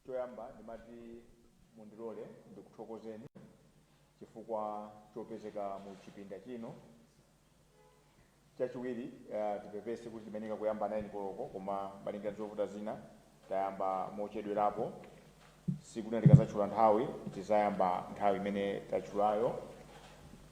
Choyamba ndimati mundilole ndikuthokozeni chifukwa chopezeka mu chipinda chino. Chachiwiri eh, tipepese kuti timayenera kuyamba 9 koloko koma malinga ndi zovuta zina tayamba mochedwerapo. Tsiku lina tikadzatchula nthawi tizayamba nthawi imene tatchulayo.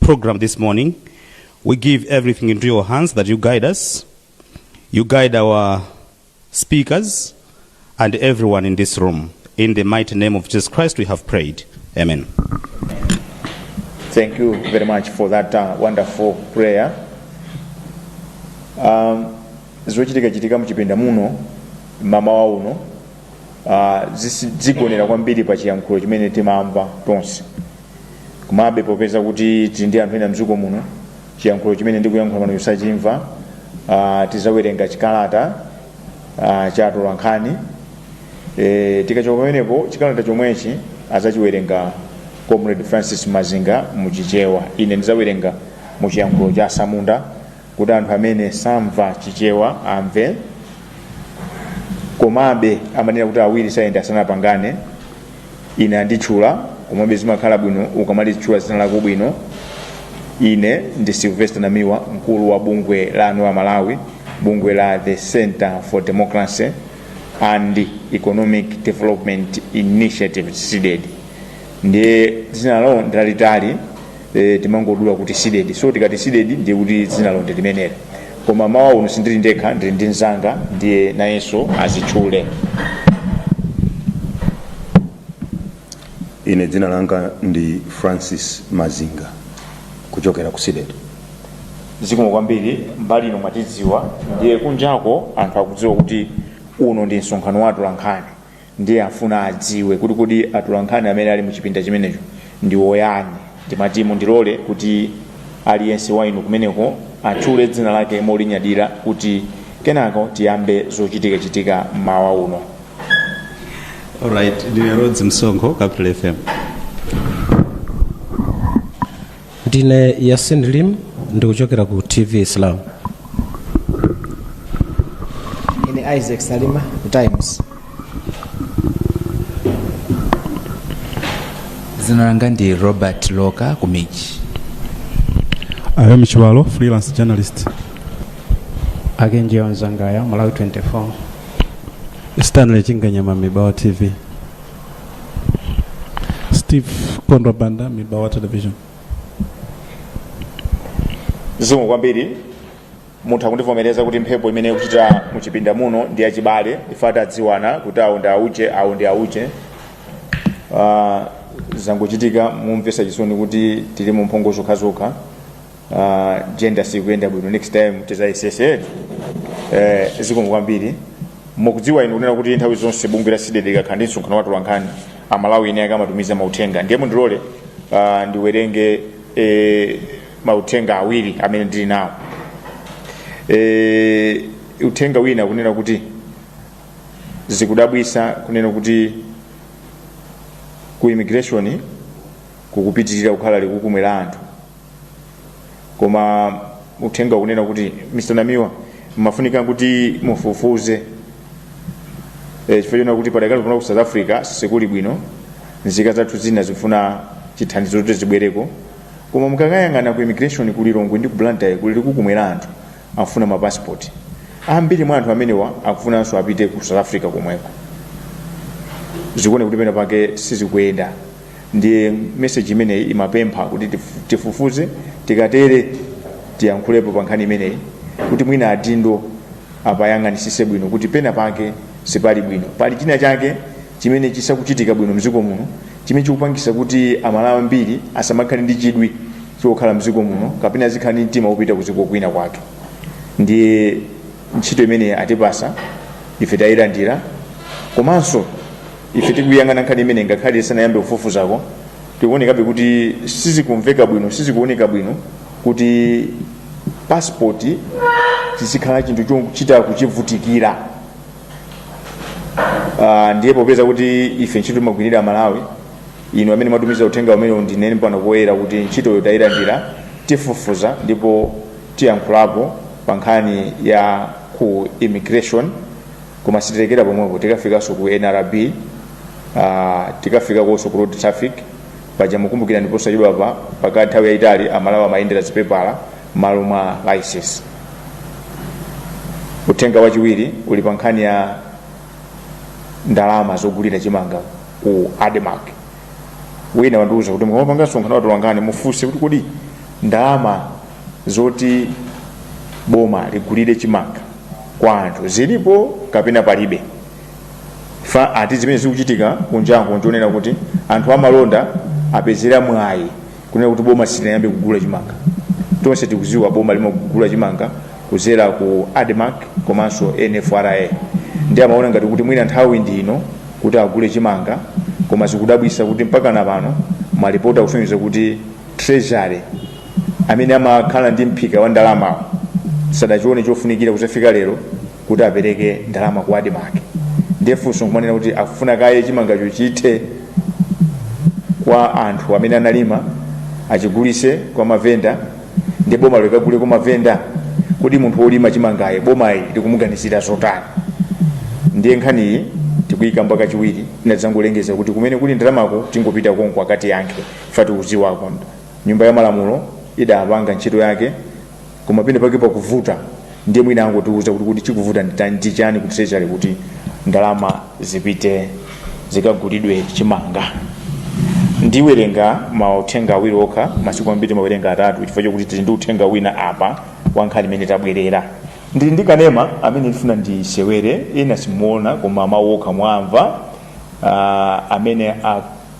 program this morning. We give everything into your hands that you guide us. You guide our speakers and everyone in this room. In the mighty name of Jesus Christ, we have prayed. Amen. Thank you very much for that uh, wonderful prayer. Um, zochitika chitika muchipinda muno mama wa uno uh, zisi- zigonera kwambiri pa chiyankhulo chimene timamva tonse komabe popeza kuti tili ndi anthu ena mdziko muno chiyankhulo chimene ndikuyankhula pano sachimva uh, tizawerenga chikalata uh, cha atolankhani e, tikachoka pamenepo chikalata chomwechi azachiwerenga comrade francis mazinga muchichewa ine ndizawerenga muchiyankhulo cha atsamunda kuti anthu amene samva chichewa amve komabe amanena kuti awiri sayenda asanapangane ine anditchula komabe zimakhala bwino ukamalitchula dzina lako bwino ine ndi sylvester namiwa mkulu wa bungwe la anthu a malawi bungwe la the center for democracy and economic development initiatives cdedi ndiye dzinalo ndi lalitali e, timangodula kuti sidedi so tikati sidedi ndiye kuti dzina lonse limeneli koma mmawa uno sindili ndekha ndili ndi mzanga ndiye nayenso azitchule ine dzina langa ndi francis mazinga kuchokera ku sidedi zikomo kwambiri mbali ino mwatidziwa ndiye kunjako anthu akudziwa kuti uno ndi msonkhano wa atolankhani ndiye afuna adziwe kuti kodi atolankhani amene ali mu chipinda chimenecho ndi otani ndimati mundilole kuti aliyense wa inu kumeneko atchule dzina lake molinyadira kuti kenako tiyambe zochitikachitika mmawa uno Alright, ndine Rhodes Msonkho, Capital FM. ndine yasin limu ndikuchokera ku tv islam ine isaac salima ku times dzina langa ndi robert loka ku mij ayamba mchiwalo freelance journalist archangel nzangaya malawi 24 stanley chinganyama mibawa tv steve kondwa banda mibawa television zikomo kwambiri muntha kundivomereza kuti mphepo imene ikupita muchipinda muno ndi yachibale ife tadziwana kuti awo ndi auje awo ndi auje Ah, zangochitika momvetsa chisoni kuti tilimo mphongo zokhazokha uh, gender sikuyenda bwino next time tizayesese eh, zikomo kwambiri mukudziwa inu kunena kuti nthawi zonse bungwe la CDEDI ikakhala ndi msonkhano wa atolankhani amalawi ena amatumiza mauthenga ndiye mundilole uh, ndiwerenge eh, mauthenga awiri amene ndili nawo eh, uthenga wina ukunena kuti zikudabwisa kunena kuti ku immigration kukupitirira kukhala likukumwe la anthu koma uthenga ukunena kuti mr namiwa mufunika kuti mufufuze e, chifukwa chonena kuti padakali pano ku south africa sikuli bwino nzika zathu zina zifuna chithandizo kuti zibwereko koma mukakayang'ana ku immigration ku lilongwe ndi ku blantyre kuli likukumwe la anthu afuna mapasipoti ambiri mwa anthu amenewa akufunanso apite ku south africa komweko zikuoneka kuti pena pake sizikuyenda ndiye meseji imeneyi imapempha kuti tifu- tifufuze tikatere tiyankhulepo pa nkhani imeneyi kuti mwina adindo apayang'anisise bwino kuti pena pake sipali bwino pali china chake chimene chisakuchitika bwino mdziko muno chimene chikupangisa kuti amalawi ambiri asamakhale ndi chidwi chokhala mdziko muno kapena azikhala ndi mtima wopita kuziko kwina kwake ndiye ntchito imene atipasa ife tayilandira komanso ife tikuyang'ana nkhani imeneyi ngakhale sitinayambe kufufuzako zikuonekabe kuti sizikumveka bwino sizikuoneka bwino kuti passport chizikhala chinthu chochita kuchivutikira uh, ndiye popeza kuti ife ntchito timagwirira amalawi inu amene mwatumiza uthenga umenewu ndinene pano poyera kuti ntchitoyo tayilandira tifufuza ndipo tiyankhulapo pa nkhani ya ku immigration koma sitilekera pomwepo tikafikanso ku nrb ah, tikafikakonso ku road traffic paja mukumbukira ndi posachedwapa pakati nthawi yayitali amalawi amayendera zipepala malo mwa license uthenga wachiwiri uli pa nkhani ya ndalama zogulira chimanga ku admarc wina wandiuza kuti mukamapanga msonkhano wa atolankhani mufunse kuti kodi ndalama zoti boma ligulire chimanga kwa anthu zilipo kapena palibe fa ati zimene zikuchitika kunjango nchonena kuti anthu amalonda apezera mwayi kunena kuti boma silinayambe kugula chimanga tonse tikuziwa boma limagula chimanga kuzera ku admarc komanso nfra ndiye amaona ngati kuti mwina nthawi ndi ino kuti agule chimanga koma zikudabwisa kuti mpaka na pano malipoti akusonyeza kuti treasury amene amakhala ndi mphika wa ndalamawo sadachione chofunikira kuzafika lero kuti apereke ndalama ku admarc ndiye funso nkumanena kuti akufuna kaye chimangacho chithe kwa anthu amene analima achigulise kwa mavenda ndi boma likagule kwa mavenda kodi munthu wolima chimangayu bomali likumuganizira zotani ndiye nkhaniyi tikuyikamba kachiwiri inadzangolengeza kuti kumene kuli ndalamako tingopita konko akatiyankhe fati uziwako nyumba ya malamulo idapanga ntchito yake koma pene pake pakuvuta ndiye mwina angotiuza kuti kodi chikuvuta ndi tani- ndi chani kuti sechali kuti ndalama zipite zikagulidwe chimanga ndiwerenga mauthenga awiri okha masiku ambiri ndimawerenga atatu chifukwa chokuti tili ndi uthenga wina apa wa nkhani imene tabwerera ndili ndi kanema amene ndifuna ndisewere ena simuona koma mawu okha muwamva ah, amene a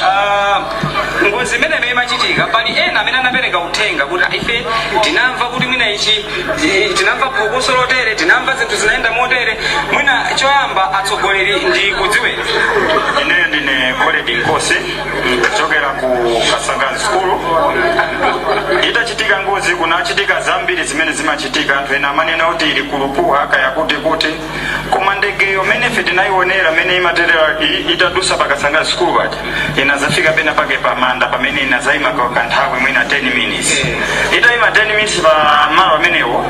uh, ngozi imeneyo imachitika pali ena amene anapereka uthenga kuti "Ah, ife tinamva kuti mwina ichi eh, tinamva phokoso lotere tinamva zinthu zinayenda motere mwina choyamba atsogoleri ndikudziweni ineyo ndine colrerd nkosi kuchokera ku kasangazi sukulu itachitika ngozi kunachitika zambiri zimene zimachitika anthu ena amanena kuti ili ku lupuha kaya kuti kuti Koma ndegeyo mmene ife tinayiwonera mmene imaterera i, itadusa pa Kasangazi sukulu paja, inadzafika penapake pa manda pamene inadzaima ka, kanthawi mwina 10 minutes. Itaima 10 minutes pa malo amenewo,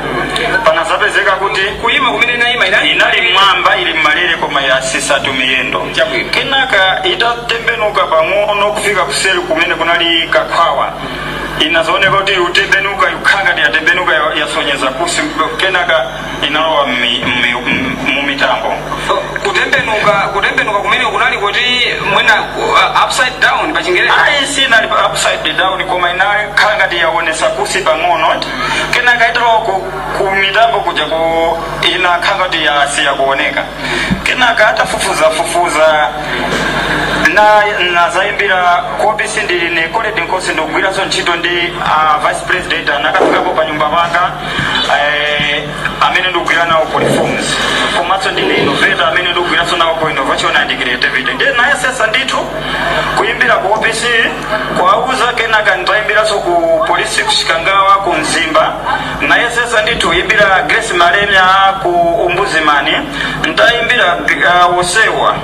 panadzapezeka kuti Kuyima kumene inayima inali. inali mmwamba ili mmalere koma yasisatu miyendo. Chabwino. Kenaka itatembenuka pang'ono kufika kuseri kumene kunali kakhwawa, inadzaoneka kuti ikutembenuka, ikukhala ngati yatembenuka ya- yasonyeza kunsi, kenaka inalowa mmi- mmi- m- mumitambo kutembenuka kutembenuka kumene kunali kuti mwina uh, upside down pa chingerezi ayi sinali pa upside down koma inakhala ngati yaonesa kunsi pang'ono kenaka italowa ku, ku mitambo kuja ku inakhala ngati yasiya kuoneka kenaka atafufuzafufuza na nazayimbira ku opc ndili ine colrerd nkosi ndikugwiranso ntchito ndi uh, vice president anakafikapo pa nyumba panga eh, amene ndikugwira nawo ku reforms komanso ndine innovator amene ndikugwiranso nawo ku innovation and creativity ndiye nayesesa ndithu kuyimbira ku opc kuwauza kenaka nditayimbiranso ku polisi kuchikangawa ku mzimba nayesesa ndithu kuyimbira grace malemya ku ombudsman nditayimbira uh, osewa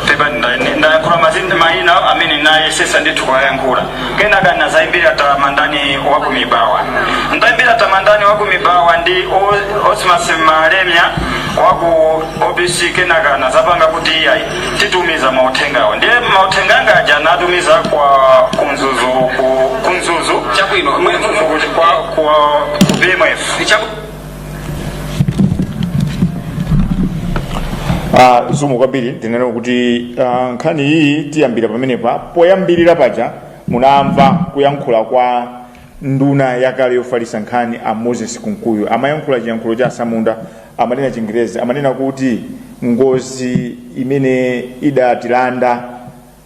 pepani nda- ndi- ndayankhula mazina mayina amene nayesesa ndithu kuwayankhula kenaka nazayimbira tamandani waku mibawa ndayimbira tamandani waku mibawa ndi O- osmas malemya waku opc kenaka anazapanga kuti iyayi titumiza mauthengawo ndiye mauthenga anga aja anatumiza kwa ku mzuzu ku- ku mzuzu Chabwino. Ku mzuzu kuti kwa kwa ku pmf Chabu- Uh, zikomo kwambiri tinene kuti uh, nkhani iyi tiyambira pamenepa poyambirira paja munamva kuyankhula kwa nduna yakale yofalitsa nkhani a moses kunkuyu amayankhula chiyankhulo cha atsamunda amanena chingerezi amanena kuti ngozi imene idatilanda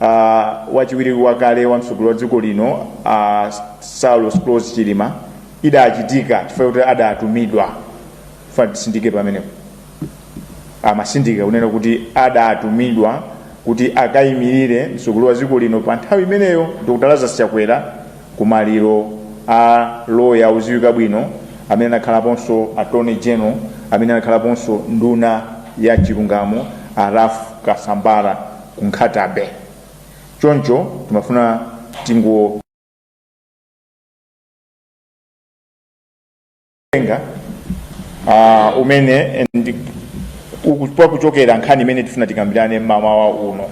Uh, wachiwiri wakale wa mtsogoleri wa dziko lino uh, Saulos Klaus Chilima idachitika chifukwa kuti adatumidwa tifuna titsindike pamenepo amatsindika kunena kuti adatumidwa kuti akayimirire mtsogoleri wa dziko lino pa nthawi imeneyo Dr. Lazarus Chakwera kumaliro a loya odziwika bwino amene anakhalaponso attorney general amene anakhalaponso nduna ya chilungamo a Ralph Kasambara ku Nkhata Bay choncho timafuna tingonena uh, kumene ikuchokera nkhani imene tifuna tikambirane mmawa uno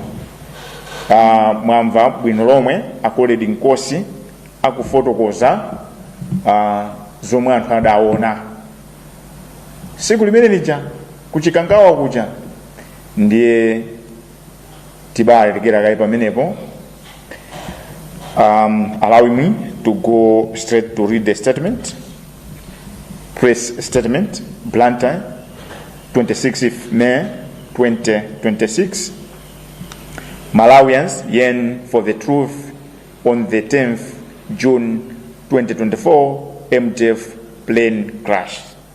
uh, mwamva bwino lomwe a Colleta Nkosi akufotokoza uh, zomwe anthu adaona tsiku limene lija ku Chikangawa kuja ndiye tibaalerekera kaye pamenepo um, allowing me to go straight to read the statement press statement blantyre 26 may 2026 malawians yearn for the truth on the 10th june 2024 mdf plane crash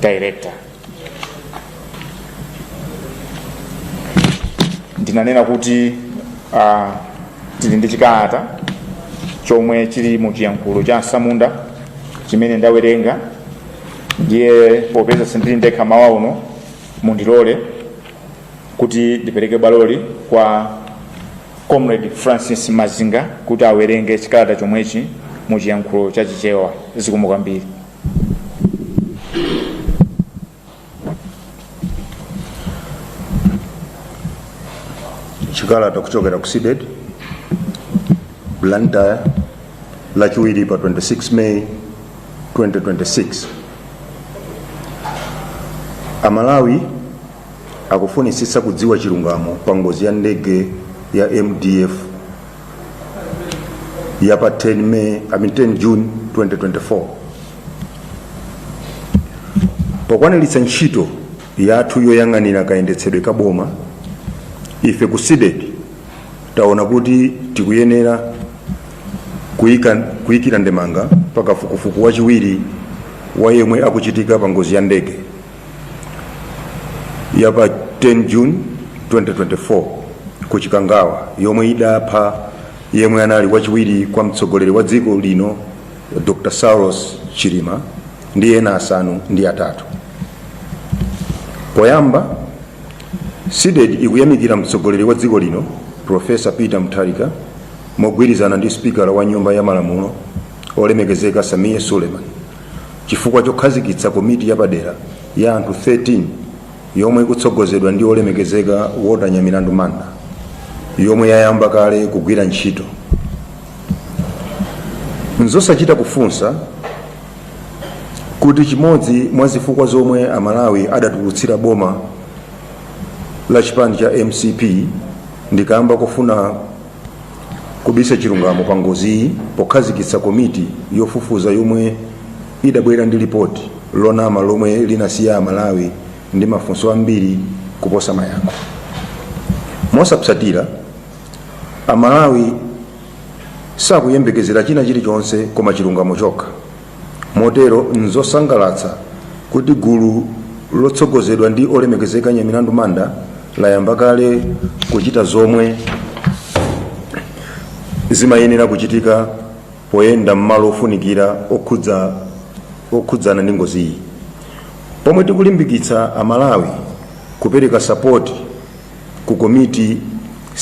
director ndinanena kuti uh, tili ndi chikalata chomwe chili mu chiyankhulo cha atsamunda chimene ndawerenga ndiye popeza sindili ndekha mmawa uno mundilole kuti ndipereke baloli kwa comrade francis mazinga kuti awerenge chikalata chomwechi mu chiyankhulo cha chichewa zikomo kwambiri chikalata kuchokera ku CDEDI blantyre lachiwiri pa 26 may 2026 amalawi akufunitsitsa kudziwa chilungamo pa ngozi ya ndege ya mdf ya pa 10 May, I mean 10 June 2024 pokwaniritsa ntchito yathu yoyang'anira kayendetsedwe ka boma ife ku CDEDI taona kuti tikuyenera kuyika kuyikira ndemanga pa kafukufuku wachiwiri wa yemwe akuchitika pa ngozi ya ndege ya pa 10 june 2024 ku chikangawa yomwe idapha yemwe anali wachiwiri kwa mtsogoleri wa dziko lino dr saulos chilima ndi ena asanu ndi atatu poyamba CDEDI ikuyamikira mtsogoleri wa dziko lino profesa peter mutharika mogwirizana ndi sipikala wa nyumba ya malamulo olemekezeka Sameer suleiman Chifukwa chokhazikitsa komiti yapadera ya anthu 13 yomwe ikutsogozedwa ndi Olemekezeka Walter Nyamilandu Manda yomwe yayamba kale kugwira ntchito. Nzosachita kufunsa kuti chimodzi mwa zifukwa zomwe Amalawi adatulutsira boma la chipani cha mcp ndi kamba kofuna kubisa chilungamo pa ngoziyi pokhazikitsa komiti yofufuza yomwe idabwera ndi lipoti lonama lomwe linasiya amalawi ndi mafunso ambiri kuposa mayankho mosapsatira amalawi sakuyembekezera china chilichonse koma chilungamo chokha Motero, n'zosangalatsa kuti gulu lotsogozedwa ndi olemekezeka a Nyamilandu Manda layamba kale kuchita zomwe zimayenera kuchitika poyenda m'malo ofunikira okhudza okhudzana ndi ngoziyi pomwe tikulimbikitsa amalawi kupereka sapoti ku komiti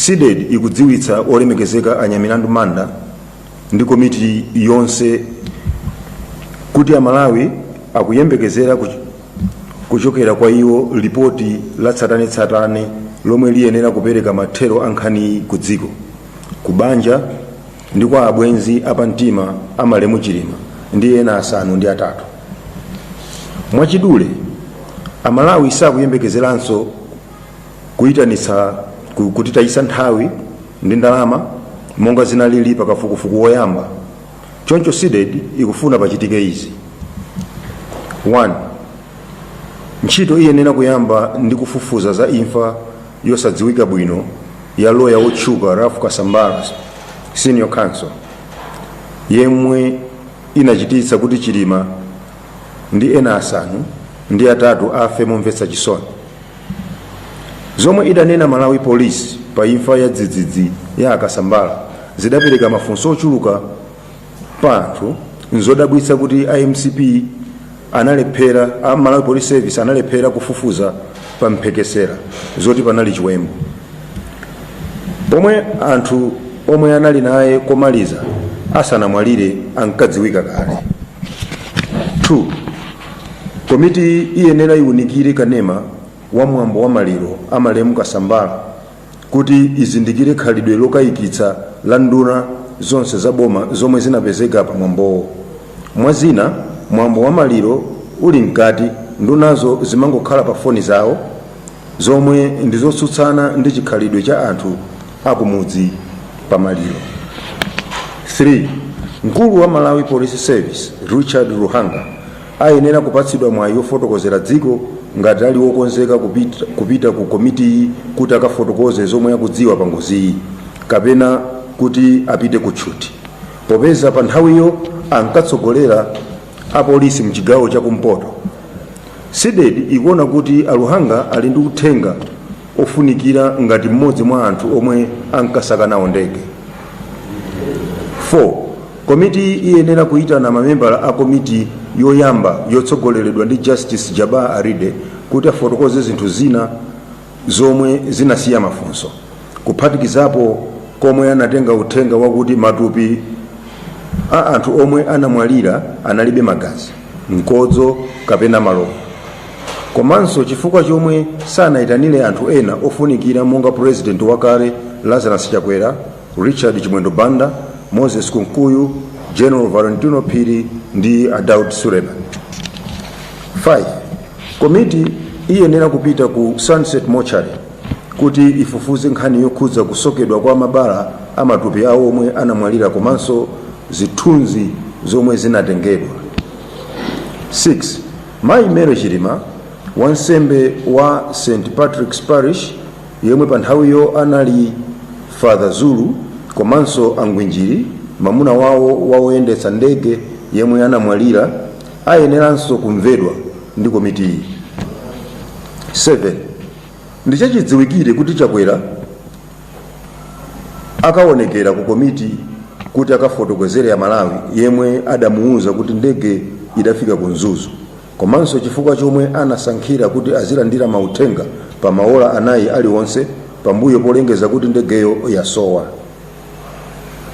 CDEDI ikudziwitsa olemekezeka a Nyamilandu manda ndi komiti yonse kuti amalawi akuyembekezera kuch- kuchokera kwa iwo lipoti la tsatanetsatane lomwe liyenera kupereka mathero a nkhaniyi ku dziko ku banja ndi kwa abwenzi apamtima a malemu chilima ndi ena asanu ndi atatu mwachidule amalawi sakuyembekezeranso Kuitanitsa ku- kutitayitsa nthawi ndi ndalama monga zinalili pa kafukufuku woyamba choncho CDEDI ikufuna pachitike izi 1 ntchito iyenera kuyamba ndi kufufuza za imfa yosadziwika bwino ya loya wotchuka ralph kasambara senior counsel yemwe inachititsa kuti chilima ndi ena asanu ndi atatu afe momvetsa chisoni Zomwe idanena Malawi Police pa imfa ya dzidzidzi ya a Kasambara zidapereka mafunso ochuluka pa anthu. N'zodabwitsa kuti a mcp analephera, a Malawi Police Service analephera kufufuza pa mphekesera zoti panali chiwembu. Pomwe anthu omwe anali naye komaliza asanamwalire ankadziwika kale. 2. Komiti iyenera iwunikire kanema wa mwambo wa maliro a malemu Kasambara kuti izindikire khalidwe lokayikitsa la nduna zonse za boma zomwe zinapezeka pa mwambowo. Mwa zina, mwambo wa maliro uli mkati, ndunazo zimangokhala pa foni zawo, zomwe ndi zotsutsana ndi chikhalidwe cha anthu akumudzi pa maliro 3 mkulu wa malawi police service richard luhanga ayenera kupatsidwa mwayi wofotokozera dziko ngati ali wokonzeka kupita ku komitiyi kuti akafotokoze zomwe akudziwa pa ngoziyi kapena kuti apite ku tchuti popeza pa nthawiyo ankatsogolera apolisi mchigawo chakumpoto cdedi ikuona kuti a luhanga ali ndi uthenga ofunikira ngati mmodzi mwa anthu omwe ankasaka nawo ndege 4 komiti iyenera kuyitana mamembala a komiti yoyamba yotsogoleredwa ndi justice jabbar alide kuti afotokoze zinthu zina zomwe zinasiya mafunso kuphatikizapo komwe anatenga uthenga wakuti matupi a anthu omwe anamwalira analibe magazi mkodzo kapena malovu komanso chifukwa chomwe sanayitanire anthu ena ofunikira monga purezidenti wakale lazarus chakwera richard chimwendo banda moses kunkuyu general valentino phiri ndi a daud suleman 5 komiti iyenera kupita ku sunset mortuary kuti ifufuze nkhani yokhudza kusokedwa kwa mabala a matupi awo omwe anamwalira komanso zithunzi zomwe zinatengedwa 6 Mayi Mary Chilima, wansembe wa St Patrick's Parish yemwe pa nthawiyo anali Father Zulu komanso a Ngwinjili, mamuna wawo wa woyendetsa ndege yemwe anamwalira, ayeneranso kumvedwa ndi komitiyi. 7. Ndichachidziwikire kuti Chakwera akaonekera ku komiti kuti akafotokozere amalawi yemwe adamuwuza kuti ndege idafika ku mzuzu komanso chifukwa chomwe anasankhira kuti azilandira mauthenga pa maola anayi aliwonse pambuyo polengeza kuti ndegeyo yasowa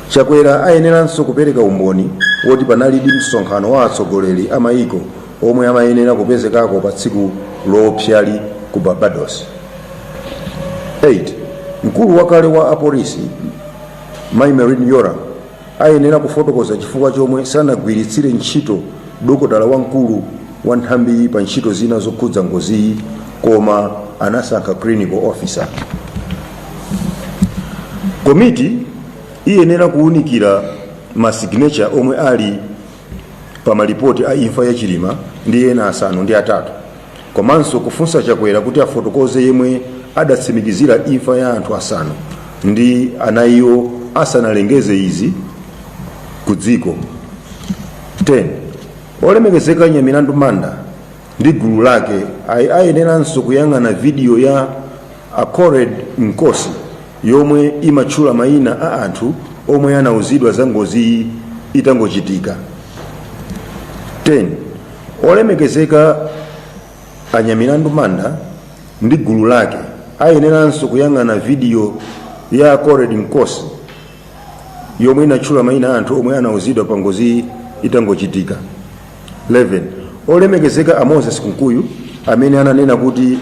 chakwera ayeneranso kupereka umboni woti panalidi msonkhano wa atsogoleri a mayiko omwe amayenera kupezekako pa tsiku loopsali ku barbados 8 mkulu wakale wa apolisi mai merlyne yolamu ayenera kufotokoza chifukwa chomwe sanagwiritsire ntchito dokotala wamkulu wa nthambiyi pa ntchito zina zokhudza ngoziyi koma anasankha clinical officer komiti iyenera kuwunikira masignature omwe ali pa malipoti a imfa ya chilima ndi ena asanu ndi atatu komanso kufunsa chakwera kuti afotokoze yemwe adatsimikizira imfa ya anthu asanu ndi anayiwo asanalengeze izi ku dziko 10 olemekezeka nyamilandu manda ndi gulu lake ayeneranso kuyang'ana vidiyo ya a colleen nkosi yomwe imatchula maina a anthu omwe anauzidwa za ngoziyi itangochitika 10 olemekezeka a nyamilandu manda ndi gulu lake ayeneranso kuyang'ana vidiyo ya colleen nkosi yomwe inatchula maina a anthu omwe anauzidwa pa ngoziyi itangochitika 11 olemekezeka a moses kunkuyu amene ananena kuti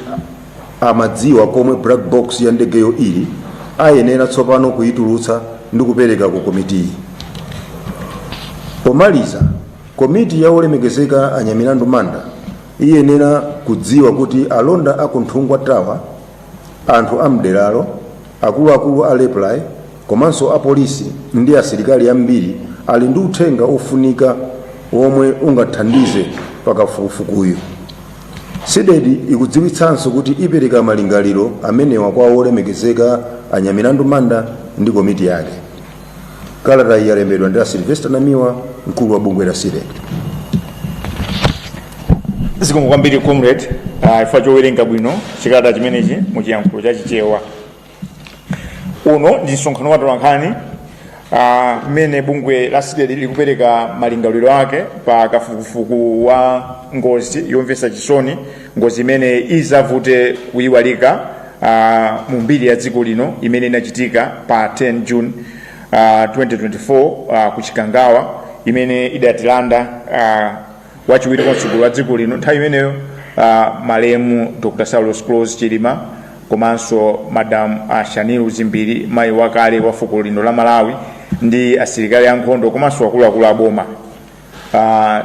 amadziwa komwe black box ya ndegeyo ili ayenera tsopano kuyitulutsa ndi kupereka ku komitiyi pomaliza komiti ya olemekezeka anyamilandu manda iyenera kudziwa kuti alonda a ku nthungwa tower anthu a mderalo akuluakulu a raiply Komanso apolisi ndi asilikali ambiri ali ndi uthenga wofunika womwe ungathandize pa kafukufukuyu. Cdedi ikudziwitsanso kuti ipereka malingaliro amenewa kwa Wolemekezeka a Nyamilandu Manda ndi komiti yake. Kalatayi yalembedwa ndi a Sylvester Namiwa, mkulu wa bungwe la Cdedi. zikomo kwambiri comrade ah, chifukwa chowerenga bwino chikalata chimenechi mu chiyankhulo cha chichewa uno ndi msonkhano wa tolankhani mmene bungwe la cdedi likupereka malingaliro ake pa kafukufuku wa ngozi yomvetsa chisoni ngozi imene izavute kuyiwalika uh, mu mbiri ya dziko lino imene inachitika pa 10 june uh, 2024 uh, ku chikangawa imene idatilanda uh, wachiwiri kwa mtsogoleri wa dziko lino nthawi imeneyo uh, malemu dr saulos klaus chilima komanso madam a shanil dzimbiri mayi wakale wa fuko lino la malawi ndi asilikali ankhondo komanso akuluakulu aboma uh,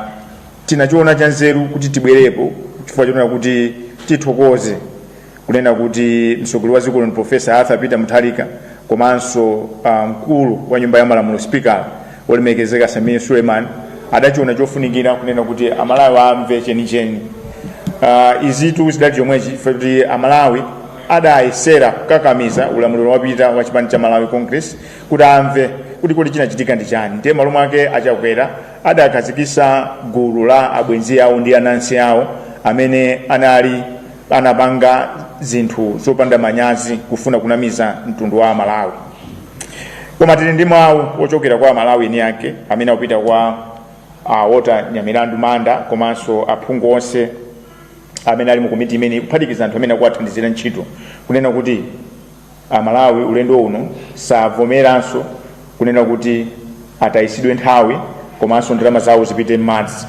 tinachiona chanzeru kuti tibwerepo chifukwa chonena kuti tithokoze kunena kuti mtsogoleri wa dziko lino professor arthur peter mutharika komanso uh, mkulu wa nyumba ya malamulo sipikala olemekezeka sameer suleiman adachiona chofunikira kunena kuti amalawi amve chenicheni uh, izitu zidali chomwechi chifukwa kuti amalawi adayesera kukakamiza ulamuliro wapitawo wa chipani cha malawi congress kuti amve kuti kodi chinachitika ndi chani ndiye malo mwake achakwera adakhazikisa gulu la abwenzi awo ndi anansi awo amene anali anapanga zinthu zopanda manyazi kufuna kunamiza mtundu wa amalawi koma tili ndi mawu ochokera kwa amalawi eni ake amene akupita kwa uh, walter nyamilandu manda komanso aphungu onse amene ali mu komiti imeneyi kuphatikiza anthu amene akuwathandizira ntchito kunena kuti Amalawi ulendo uno savomeranso kunena kuti atayisidwe nthawi komanso ndalama zawo zipite m'madzi.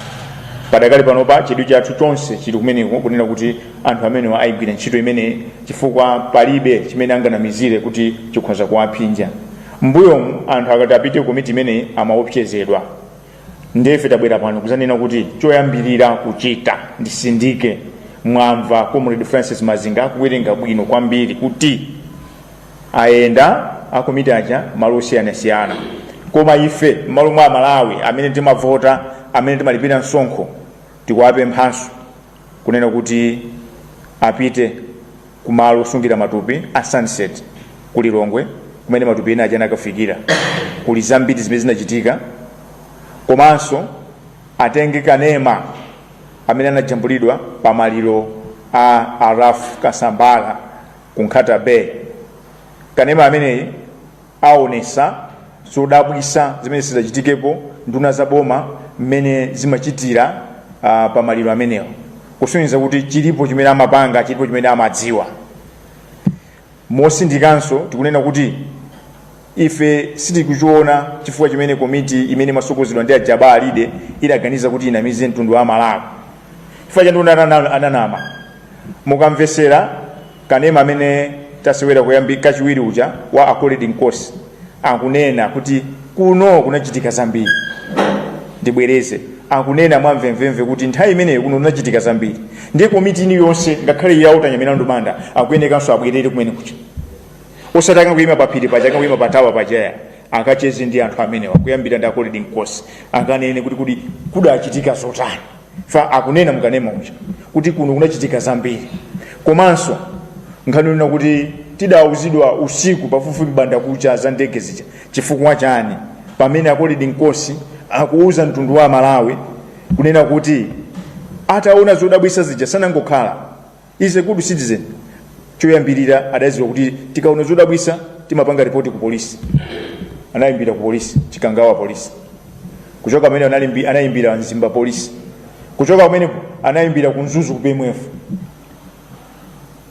Padakali panopa chidwi chathu chonse chili kumeneko kunena kuti anthu amenewa ayigwira ntchito imeneyi chifukwa palibe chimene anganamizire kuti chikhoza kuwaphinja. M'mbuyomu anthu akati apite ku komiti imeneyi amaopsezedwa. nde ife tabwera pano kuzanena kuti choyambirira kuchita ndisindike mwamva comrade francis mazinga akuwerenga bwino kwambiri kuti ayenda akomiti aja malo osiyanasiyana koma ife m'malo mwa amalawi amene timavota amene timalipira msonkho tikuwapemphanso kunena kuti apite ku malo osungira matupi a sunset ku lilongwe kumene matupi ena aja anakafikira kuli zambiri zimene zinachitika komanso atenge kanema amene anajambulidwa pa maliro a a ralph kasambara ku nkhata bay kanema ameneyi aonesa zodabwisa zimene sizidachitikepo nduna za boma mmene zimachitira uh, pa maliro amenewo kusonyeza kuti chilipo chimene amapanga chilipo chimene amadziwa mosindikanso tikunena kuti ife sitikuchiona chifukwa chimene komiti imene imasogozedwa ndi a jabbar alide idaganiza kuti inamize mtundu wa amalawi chifukwa chani unanana- ananama mukamvesera kanema amene tasewera kuyambi kachiwiri uja wa akoledi nkosi akunena kuti kuno kunachitika zambiri ndibwereze akunena mwamvemvemve kuti nthawi imeneyo kuno kunachitika zambiri ndiye komiti ino yonse ngakhale ya walter nyamilandu manda akuyenekanso abwerere kumene kuja osati akangoyima paphiri paja akangoyima pa tower paja ayi akacheze ndi anthu amenewa kuyambira ndi akoledi nkosi akanene kuti kodi kudachitika zotani fa akunena mukanema uja kuti kuno kunachitika zambiri komanso nkhani yonena kuti tidauzidwa usiku pafupifupi m'bandakucha za ndege zija chifukwa chani pamene akoledi nkosi akuuza mtundu wa malawi kunena kuti ataona zodabwisa zija sanangokhala is a good citizen choyambirira adadziwa kuti tikaona zodabwitsa timapanga ripoti ku polisi anayimbira ku polisi chikangawa polisi kuchoka pamene analimbi- anayimbira mzimba polisi kuchoka pamenepo anayimbira ku mzuzu ku mdf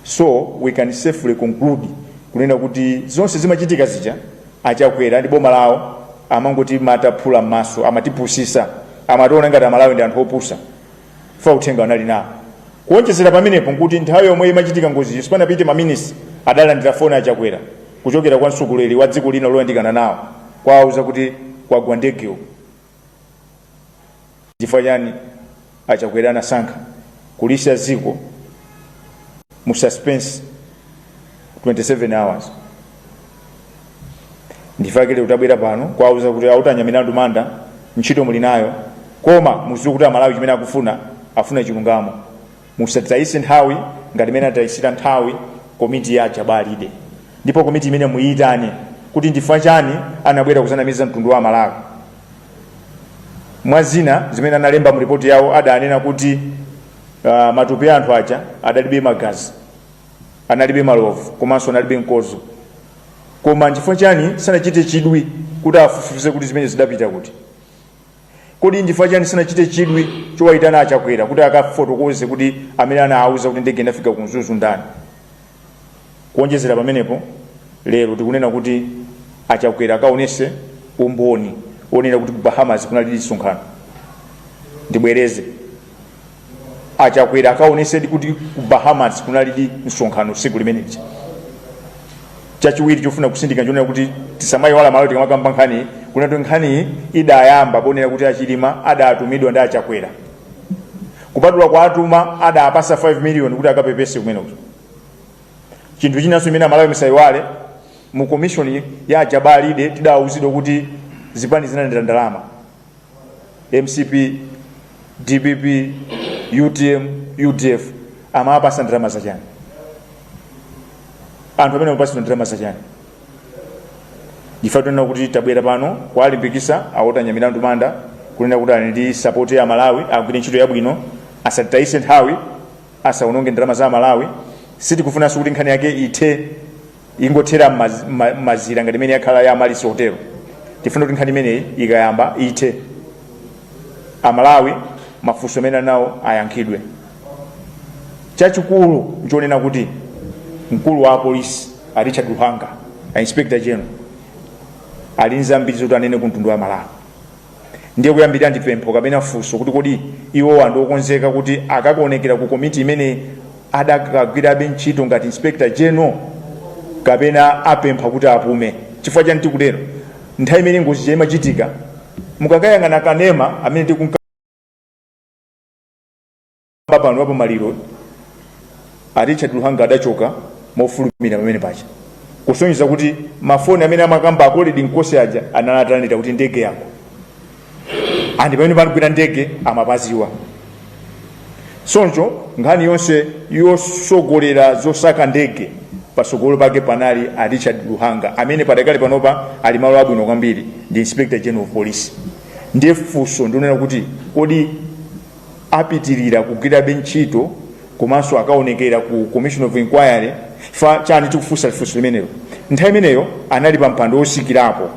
so we can safely conclude kunena kuti zonse zimachitika zija achakwera ndi boma lawo amangotimata phula m'maso amatipusisa amationa ngati amalawi ndi anthu opusa fa uthenga anali nawo kuonjezera pamenepo nkuti nthawi yomwe imachitika ngoziyo sipanapite maminisi adalandira foni a chakwera kuchokera kwa mtsogoleri wa dziko lina loyandikana nawo kuwauza kuti kwagwa ndege uku chifukwa chani achakwera anasankha kulisiya dziko mu suspense 27 hours ndifakile utabwera pano kwauza kuti a Walter Nyamilandu Manda ntchito muli nayo koma muziwe kuti amalawi chimene akufuna afuna chilungamo musatayise nthawi ngati imene atayisira nthawi komiti ya a Jabbar Alide ndipo komiti imeneyi muyitane kuti ndifa chani anabwera kuzanamiza mtundu wa amalawi mwa zina zimene analemba mu ripoti yawo adanena kuti uh, matupi a anthu aja adalibe magazi analibe malovu komanso analibe mkozo koma nchifukwa chani sanachite chidwi kuti afufuze kuti zimenezi zidapita kuti kodi nchifukwa chani sanachite chidwi chowayitana achakwera kuti akafotokoze kuti amene anawauza kuti ndege inafika ku mzuzu ndani kuonjezera pamenepo lero tikunena kuti achakwera akaonese umboni onena kuti ku bahamas kunali msonkhano ndibwereze a chakwera akaonesedi kuti ku bahamas kunalidi msonkhano siku limeneli chachiwiri chofuna kusindika nchonena kuti tisamayiwale amalawi tikamakamba nkhani kunena kuti nkhani idayamba ponena kuti achilima adatumidwa ndi achakwera kupatula kuwatuma adawapasa 5 million kuti akapepese kumene kuti chinthu chinanso chimene amalawi misayiwale mu komishoni ya a Jabbar Alide tidawuzidwa kuti zipani zinalandira ndalama mcp dpp utm udf amawapasa ndalama zachani anthu amenewa amawapasira ndalama zachani ife tinena kuti tabwera pano kuwalimbikisa a Walter Nyamilandu Manda kunena kuti ali ndi sapoti ya amalawi agwire ntchito yabwino asatitayise nthawi asaononge ndalama za amalawi sitikufunanso kuti nkhani yake ithe ingothera m'maz- m'ma- m'mazira ngati imene yakhala ya Amaryllis hotelo tifuna kuti nkhani imeneyi ikayamba ithe amalawi mafunso amene ali nawo ayankhidwe chachikulu nchonena kuti mkulu wa apolisi a richard luhanga a inspector general ali nzambiri zoti anene ku mtundu wa malawi ndiye kuyambirira ndi pempho kapena funso kuti kodi iwowa ndi okonzeka kuti akakaonekera ku komiti imene adakagwirabe ntchito ngati inspector general kapena apempha kuti apume chifukwa chani tikutero nthawi imene ngozi ija imachitika mukakayang'ana kanema amene tikunka pamwamba pano wapo maliro a richard luhanga adachoka mofulumira pamene paja kusonyeza kuti mafoni amene amakamba a Colleen Nkosi aja anali atanena kuti ndege yagwa and pamene panagwera ndege amapaziwa choncho nkhani yonse yosogolera zosaka ndege pasogolo pake panali a richard luhanga amene padakali panopa ali malo abwino kwambiri ndi inspector general of police ndiye funso ndi lonena kuti kodi apitirire kugwirabe ntchito komanso akaonekera ku commission of inquiry chifukwa chani tikufunsa funso limenelo nthawi imeneyo anali pa mpando wotsikirapo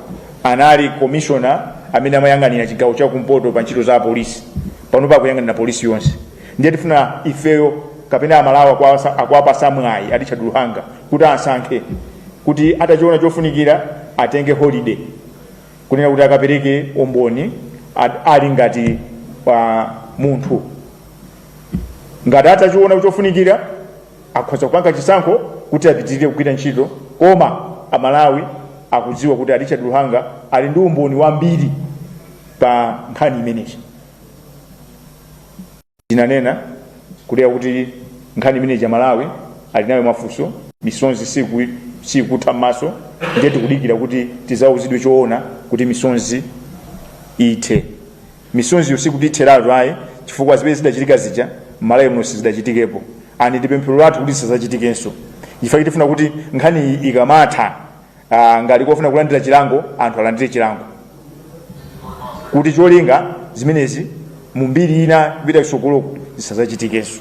anali komishona amene amayang'anira chigawo cha kumpoto pa ntchito za apolisi panopa akuyang'anira polisi yonse ndiye tifuna ifeyo kapena amalawi akuwapasa mwayi a richard luhanga kuti asankhe kuti atachiona chofunikira atenge holiday kunena kuti akapereke umboni ad- ali ngati munthu ngati atachiona kuti chofunikira akhoza kupanga chisankho kuti apitirire kugwira ntchito koma amalawi akudziwa kuti a richard luhanga ali ndi umboni wambiri pa nkhani imeneyi Tinanena kale kuti nkhani imeneyi aMalawi ali nayo mafunso, misozi siku, sikutha m'maso ndiye tikudikira kuti tizauzidwe choona kuti misozi ithe. Misoziyo sikuti itheratu ayi chifukwa zimene zidachitika zija m'Malawi muno sizidachitikepo and ndi pemphero lathu kuti zisazachitikenso chifukwa chake tifuna kuti nkhaniyi ikamatha Ah, ngati kuli ofuna kulandira chilango anthu alandire chilango kuti cholinga zimenezi mu mbiri ina kupita kusogolo zisazachitikenso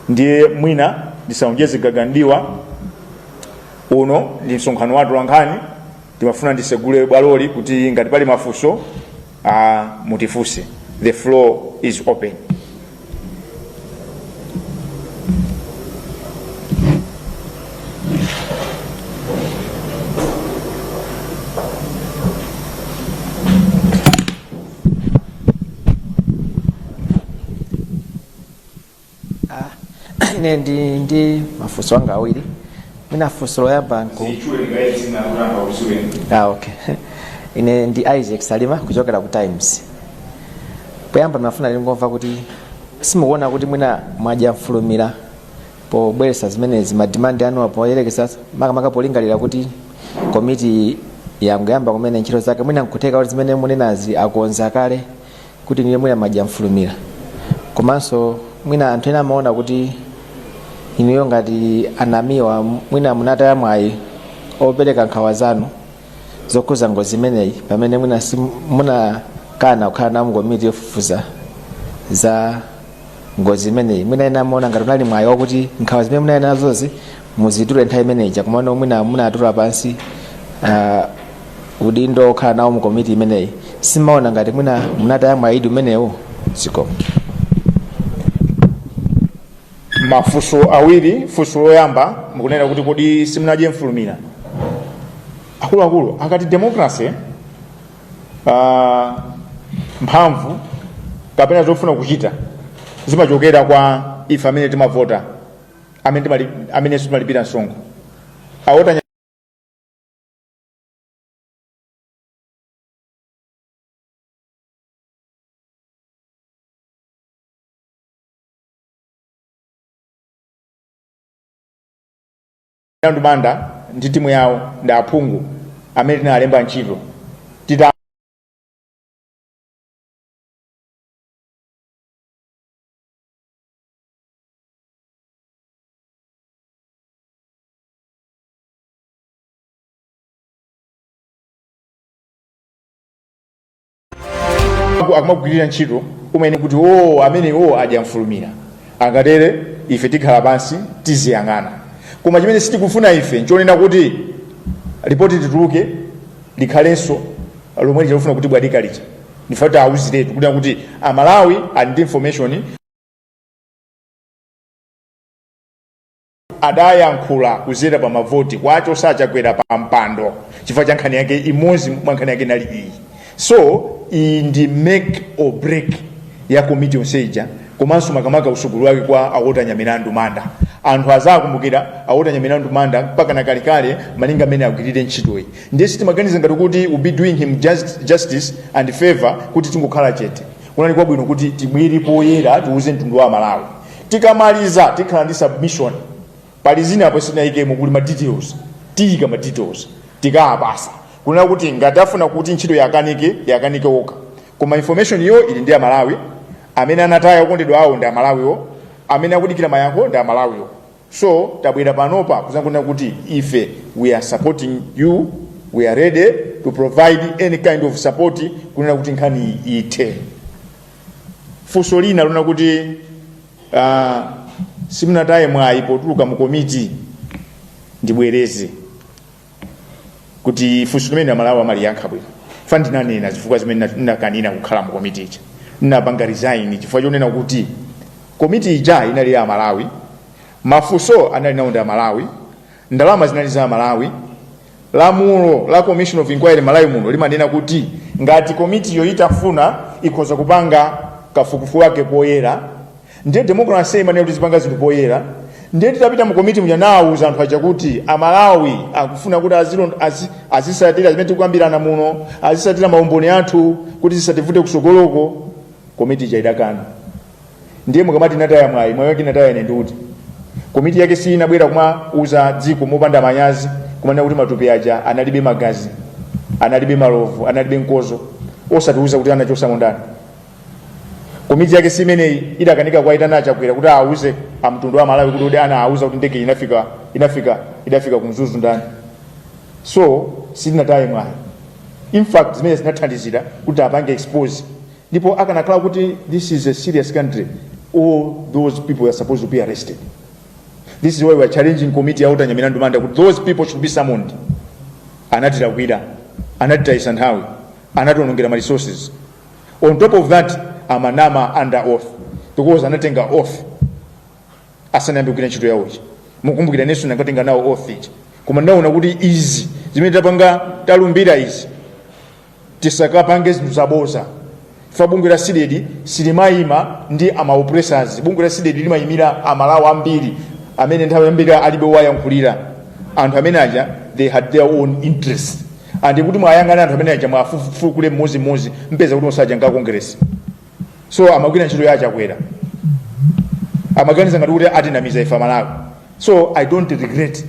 ndiye mwina ndisaonjeze gaga m'diwa uno ndi msonkhano wa atolankhani ndimafuna ndisegule bwaloli kuti ngati pali mafunso a mutifunse the floor is open ine ndili ndi mafunso anga awiri mwina funso loyamba nku ah, okay ine ndi isaac salima kuchokera ku times poyamba ndimafuna ndingomva kuti simukuona kuti mwina mwadya mfulumira pobweresa zimenezi madimandi anuwa poyerekeza makamaka polingalira kuti komiti yangoyamba kumene ntchito zake mwina nkutheka kuti zimene munenazi akonza kale kuti inuyo mwina mwadya mfulumira komanso mwina anthu ena amaona kuti inuyo ngati anamiwa mwina munataya mwayi opereka nkhawa zanu zokhuza ngozi imeneyi pamene mwina si- munakana kukhala nawo mkomiti yofufuza za ngozi imeneyi mwina ena amaona ngati unali mwayi wakuti nkhawa zimene munali nazozi muzitule nthawi imene ija komano mwina munatula pansi uh, udindo okhala nawo mu komiti imeneyi simaona ngati mwina munataya mwayidi umenewo zikomo mafunso awiri funso loyamba mukunena kuti kodi simunadye mfulumira akuluakulu akati democracy uh, mphamvu kapena zofuna kuchita zimachokera kwa ife amene timavota amene timali- amenenso timalipira msonkho a Walter Nyamilandu Manda ndi timu yawo ndi aphungu amene tinalemba ntchito tita Aku- akumagwirira ntchito umene kuti o amene o adyamfulumira angatere ife tikhala pansi tiziyang'ana koma chimene sitikufuna ife nchonena kuti ripoti lituluke likhalenso lomwe lija lofuna kutibwatika lija ndife kuti tiwauziretu kunena kuti amalawi ali ndi information adayankhula kuzera pa mavoti kuwachotsa a Chakwera pa mpando chifukwa cha nkhani yake imodzi mwa nkhani yake inali iyi so iyi ndi make or break ya komiti yonse ija komanso makamaka utsogoleri wake kwa a Walter Nyamilandu Manda anthu azakumbukira a Walter Nyamilandu Manda mpaka na kalekale malinga mmene agwirire ntchitoyi ndiye sitimaganiza ngati kuti we'll be doing him just, justice and favor kuti tingokhala chete kunali kwabwino kuti tibwere poyera tiuze mtundu wa malawi tikamaliza tikhala ndi submission pali zina apo sitinayikemo kuli ma details tiyika ma details tikawapasa kunena kuti ngati afuna kuti ntchito yakanike yakanike okha koma information yo ili ndi amalawi amene anataya okondedwa awo ndi amalawiwo amene akudikira mayankho ndi amalawiwo so tabwera panopa kuzanena kuti ife we are supporting you we are ready to provide any kind of support kunena kuti nkhani iyi ithe funso lina lonena kuti uh, simunataye mwayi potuluka mu komiti ndibwereze kuti funso limene amalawi amaliyankha bwino chifukwa ndinanena zifukwa zimene ndina- ndinakanira kukhala mu komiti ija ndinapanga resign chifukwa chonena kuti komiti ija inali ya amalawi mafunso anali nawo ndi amalawi ndalama zinali za amalawi lamulo la commission of inquiry malawi muno limanena kuti ngati komitiyo itafuna ikhoza kupanga kafukufuku wake poyera ndiye democracy imanena kuti tizipanga zinthu poyera ndiye titapita mu komiti muja nawuza anthu aja kuti amalawi akufuna kuti azilon- azi- azisatira zimene tikukambirana muno azisatira maumboni athu kuti zisativute kusogoloko komiti ija idakana ndiye mukamati nataya mwayi mwayi wake nataya ine ndiuti komiti yake si inabwera kumauza dziko mopanda manyazi kumanena kuti matupi aja analibe magazi analibe malovu analibe mkozo osatiuza kuti anachosamo ndani komiti yake simeneyi idakanika kuwaitana achakwera kuti awuze mtundu wa malawi kuti kodi anawuza kuti ndege inafika inafika idafika kumzuzu ndani so sitinataye mwayi in fact zimene zinathandizira kuti apange expose ndipo akanakhala kuti this is a serious country all those people are supposed to be arrested this is why we are challenging committee ya walter nyamilandu manda kuti those people should be summoned anatilakwira anatitayisa nthawi anationongera ma resources on top of that amanama under oath because anatenga oath asanayambe kugwira ntchito yawo ija mukumbukira inenso ndinkatenga nawo oath ija koma ndaona kuti izi zimene tapanga talumbira izi tisakapange zinthu zaboza ife a bungwe la cdedi silimayima ndi ma oppressors bungwe la cdedi limayimira amalawi ambiri amene nthawi yambiri alibe owayankhulira anthu amene aja they had their own interest and kuti muwayang'ane anthu amene aja muwafukule mmodzimmodzi mpeza kuti onse aja ndi a kongeresi so amagwira ntchito ya achakwera amaganiza ngati kuti atinamiza ife amalawi so i don't regret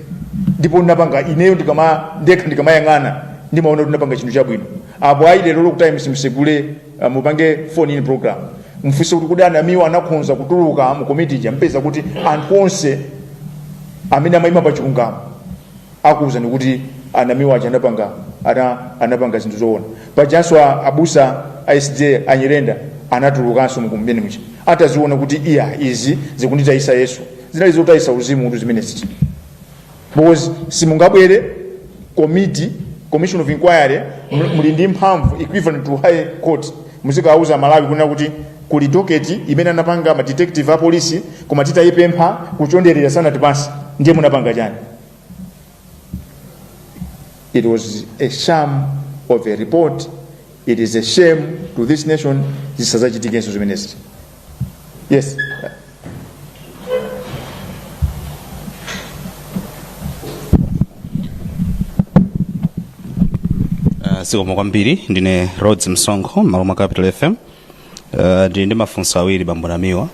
ndipo ndinapanga ineyo ndikama ndekha ndikamayang'ana ndimaona kuti ndinapanga chinthu chabwino apo ayi lero lokuti times musegule uh, mupange phone in program mfunse kuti kodi anamiwa anakhonza kutuluka mu komiti ija mpeza kuti anthu onse amene amayima pa chilungamo akuwuzani kuti anamiwa aja anapanga ana, anapanga zinthu zoona pajanso a- abusa a sda nyirenda anatulukanso mkomiti muja ataziona kuti iya izi zikunditayisa yesu zinali zotayisa uzimu kuti zimene ziti because simungabwere committee commission of inquiry muli- muli ndi mphamvu equivalent to high court muzikawuza amalawi kunena kuti kuli doketi imene anapanga ma detective a polisi koma titayipempha kuchonderera sanatipase ndiye munapanga chani It was a sham of a report. It is a shame to this nation. Zisazachitikenso zimenezi. Yes. zikomo kwambiri ndine rhodes msonkho m'malo mwa capital fm Uh, ndili ndi mafunso awiri bambo namiwa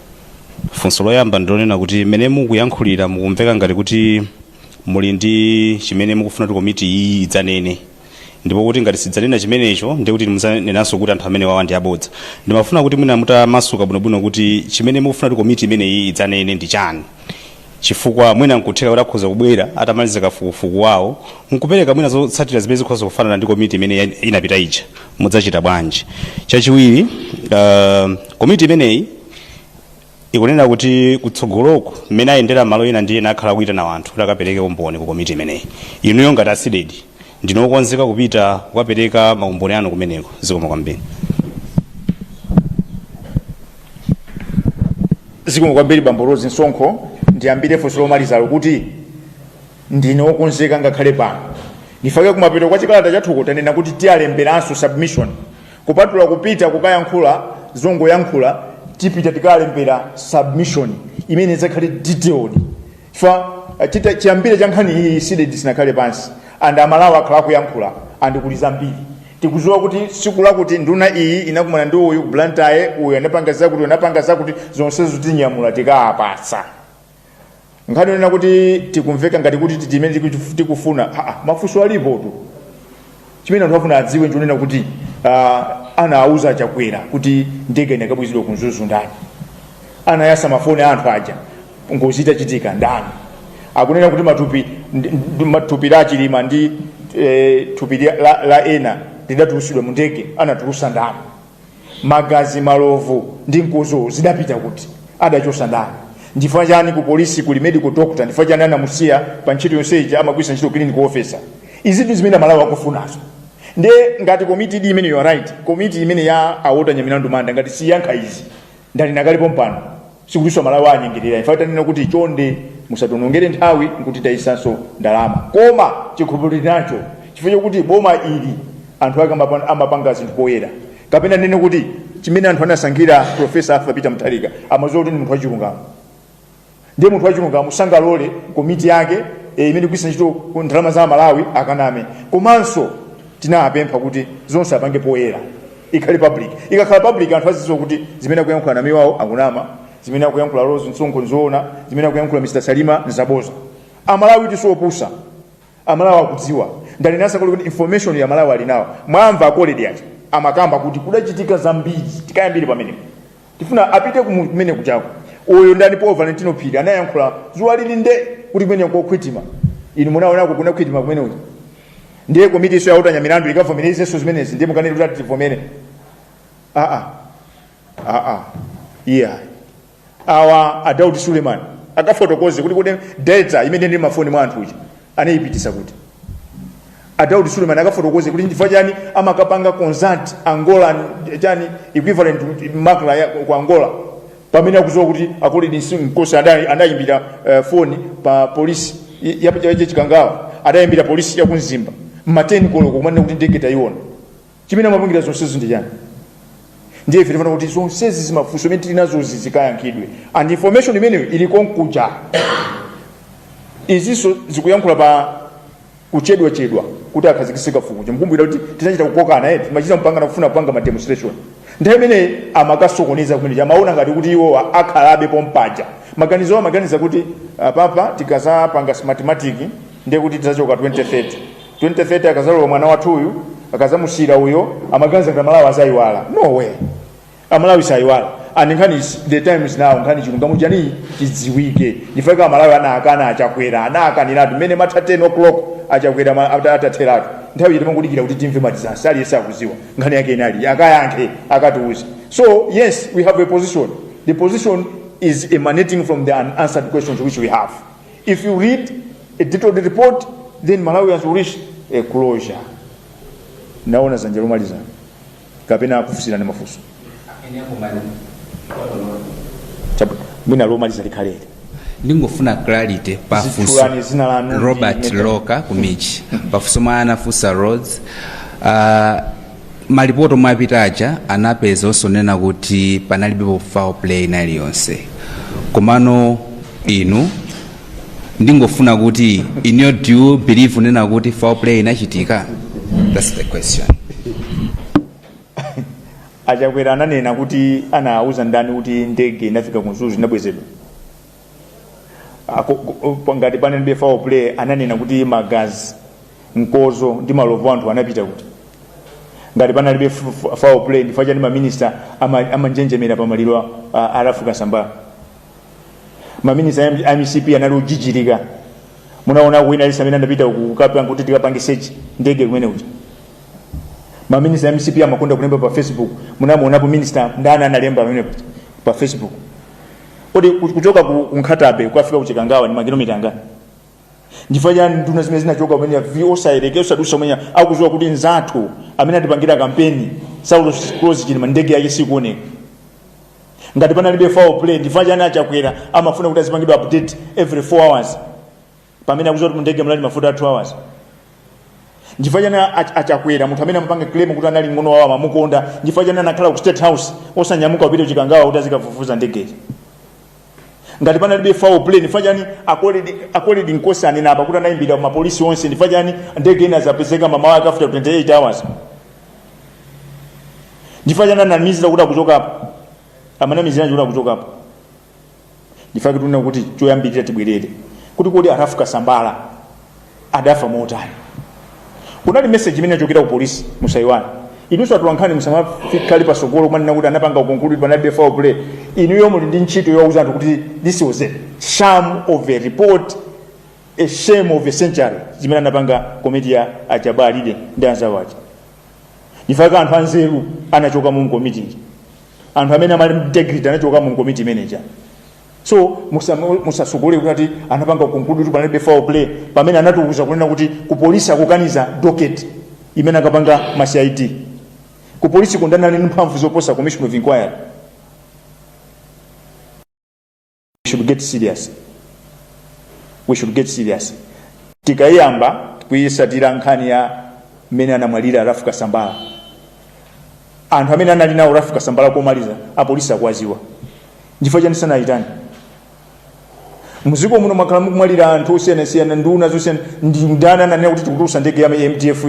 funso loyamba ndilonena kuti mmene mukuyankhulira mukumveka ngati kuti muli ndi chimene mukufuna kuti komiti iyi idzanene ndipo kuti ngati sidzanena chimenecho ndiye kuti muzanenanso kuti anthu amenewa ndi abodza ndimafuna kuti mwina mutamasuka bwinobwino kuti chimene mukufuna kuti komiti imeneyi idzanene ndi chani chifukwa mwina nkutheka kuti akhoza kubwera atamaliza kafukufuku wawo nkupereka mwina zotsatira zimene zikhoza kufanana ndi komiti imene ya- inapita ija mudzachita bwanji chachiwiri uh, komiti imeneyi ikunena kuti kutsogoloko mmene ayendera malo ena ndi ena akhala akuitana wanthu kuti akapereke umboni ku komiti imeneyi inuyo ngati a CDEDI ndinu okonzeka kupita kukapereka maumboni anu kumeneko zikomo kwambiri Zikomo kwambiri bambo Rose Msonkho. Ndiyambire funso lomalizalo kuti ndine wokonzeka ngakhale pano. Ndipake kumapeto kwa chikalata chathuko tanena kuti tiyalemberanso submission. Kupatula kupita kukayankhula zongoyankhula tipita tikalembere submission imene idzakhale detailed. fa chi- chiyambire cha nkhani iyi CDEDI sinakhale pansi and amalawi akhala akuyankhula and kuli zambiri tikuziwa kuti siku lakuti nduna iyi inakumana ndi uyu ku Blantyre uyu anapanga zakuti uyu anapanga zakuti zonsezo tinyamula tikawapatsa nkhani yonena kuti tikumveka ngati kuti titi imene tiku- tikufuna Ah, ah, mafunso alipo tu chimene anthu afuna adziwe nchonena kuti uh, anawuza a chakwera kuti ndege inakabwezedwa ku mzuzu ndani anayasa mafoni a anthu aja ngozi itachitika ndani akunena kuti matupi ndi- ndi- thupi la a chilima ndi eh, thupi la, la a ena lidatulusidwa mu ndege anatulusa ndani magazi malovu ndi mkozo zidapita kuti adachosa ndani ndifukwa chani ku polisi kuli medical doctor ndifukwa chani anamusiya pa ntchito yonse ija nkumagwilisa ntchito clinical officer izitu zimene amalawi akufunazo nde ngati komiti iyi imene you are right komiti imene ya a Walter Nyamilandu Manda ngati siyankha izi ndalinena kale pompano sikutinso amalawi akunyengerera imfa tanena kuti chonde musationongere nthawi nkutitayisanso ndalama koma chikhulupiriro tili nacho chifukwa chokuti boma ili anthu ake amapa- amapanga zinthu poyera kapena ndinene kuti chimene anthu anasankhira profesa arthur peter mutharika amadziwa kuti ndi munthu wachilungamo ndiye munthu wachilungamo sangalole komiti yake eh, imene ikugwilisa ntchito ndalama za amalawi akaname komanso tinapempha kuti zonse apange poyera ikhale public ikakhala public anthu azidziwa kuti zimene akuyankhula namiwa akunama zimene akuyankhula rose msonkho nzoona zimene akuyankhula mr salima nzaboza amalawi sitopusa amalawi akudziwa ndalinenaso kale kuti information amalawi ali nayo mwamva akoledi aja amakamba kuti kudachitika zambiri tikayambire pamenepo Tifuna apite kumene kujako. Uyu ndani Paul Valentino Phiri anayankhula zuwa lili nde kuti kumene kokhwitima. Inu munaonako kuna khwitima kumene uyu. Ndiye komiti iso yautanya milandu ikavomerezenso zimenezi ndiye mukanene kuti ati tivomere. Ah ah. Ah ah. Yeah. Awa a Daud Suleiman akafotokoze kuti kodi data imene ndi mafoni mwa anthu aja anaipitisa kuti a Daud Suleiman akafotokoze kuti chifukwa chani amakapanga consult Angola chani equivalent to MACRA ya ku Angola pamene akuziwa kuti a Colrerd Nkosi anayimbira uh, foni pa polisi ya pa uje Chikangawa adayimbira polisi ya ku Mzimba mmateni koloko kumanena kuti ndege tayiona chimene amapangira zonsezi ndi chani ndiye ife tifuna kuti zonsezi zimafunso imene tili nazozi zikayankhidwe and information imeneyo ili konkuja izinso zikuyankhula pa kuchedwachedwa kuti akhazikise kafukufuku mukumbukira kuti tinachita kukokana eti timachita kupangana kufuna kupanga ma demonstration nthawi imene amakasokoneza kumeneja amaona ngati kuti iwowa akhalabe pompaja maganizo awo amaganiza kuti apapa tikazapanga smartmatic ndiye kuti tizachoka 2030 2030 akazalowa mwana wathu uyu akazamusiyira uyo amaganiza kuti amalawi azayiwala no way amalawi sayiwala and nkhani is- the time is now nkhani chilungamo chani chidziwike ndifeka amalawi anakana achakwera anakaniratu mmene imatha 10 o'clock achakwera ma- ata- atatheratu nthawi yiti mangodikira kuti timve madizasi aliyense akuziwa nkhani yake inali akayankhe akatiuze so yes we have a position the position is emanating from the unanswered questions which we have If you read a detailed report, then Malawians will reach a closure. Naona zanja lomaliza kapena akufunsirani mafunso Chabu- mwina lomaliza likhaleli ndingofuna clarity pafunso Zitchulani zina lanu robert ndichoka ku MIJ pafunso lomwe anafunsa roads uh, Malipoti omwe apita aja anapeza zonena kuti panalibepo foul play ina iliyonse komano inu ndingofuna kuti in your due believe kunena kuti foul play inachitika that's the question achakwera ananena kuti anauza ndani kuti ndege inafika ku Mzuzu inabwezedwa Ako- ko- ngati panalibe foul play ananena kuti magazi mkozo ndi malovu anthu anapita kuti ngati panalibe f- f- foul play ndifukwa chani maminista ama- amanjenjemera pa maliro a- a- a Ralph Kasambara maminista a- a mcp anali kujijirika munaona kuwina lisa amene anapita kukapanga kuti tikapange search ndege kumene kuti maminista a mcp amakonda kulemba pa facebook munamuonapo minista ndani analemba pamene kuti pa facebook kodi ku- kuchoka ku ku Nkhata Bay kukafika ku chikangawa ni makilomita angati nchifa chani nduna zimene zinachoka umenya V osayelekeza osadusa umenya akuziwa kuti nzathu amene atipangira kampeni saulos klaus chilima ndege yake sikuoneka ngati panalibe foul play nchifa chani achakwera amafuna kuti azipangidwa update every 4 hours pamene akuziwa kuti mundege munali mafuta a 2 hours nchifa chani ach- achakwera munthu amene amapanga claim kuti anali ng'ono wawo amamukonda nchifa chani anakhala ku state house osanyamuka kupita kuchikangawa kuti azikafufuza ndegeyi ngati panalibe foul play nchifa chani a Colleen a Colleen nkosi anena apa kuti anayimbira mapolisi onse nchifa chani ndege inazapezeka mamawa ake after 28 hours nchifa chani anamizira kuti akuchokapo amanamizira kuti akuchokapo ndifa kuti unena kuti choyambirira tibwerere kuti kodi a Ralph Kasambala anafa motani kunali message imene yachokera ku polisi musaiwani inunso atulankhani musamafikire pasogolo kumanena kuti anapanga conclude panalibe foul play inuyo muli ndi ntchito yowauza anthu kuti this was a sham of a report a shame of a century zimene anapanga komiti ya a Jabbar Alide ndi anzawo aja nchifa chake anthu anzeru anachoka mu komiti ija anthu amene anali integrity anachoka mu komiti imeneja so musasogolere kuti ati anapanga conclude kuti panalibe foul play pamene anatiuza kunena kuti ku polisi akukaniza docket imene akapanga ma cid ku polisi koma anali ndi mphamvu zoposa commission of inquiry we should get serious we should get serious tikayamba kuyisatira nkhani ya mmene anamwalira Ralph Kasambala anthu amene anali naye Ralph Kasambala komaliza apolisi akuwaziwa chifukwa chani sanayitane muziko muno mwakhala mukumwalira anthu osiyanasiyana nduna zosiyana nndani ananena kuti tikutulusa ndege ya mdf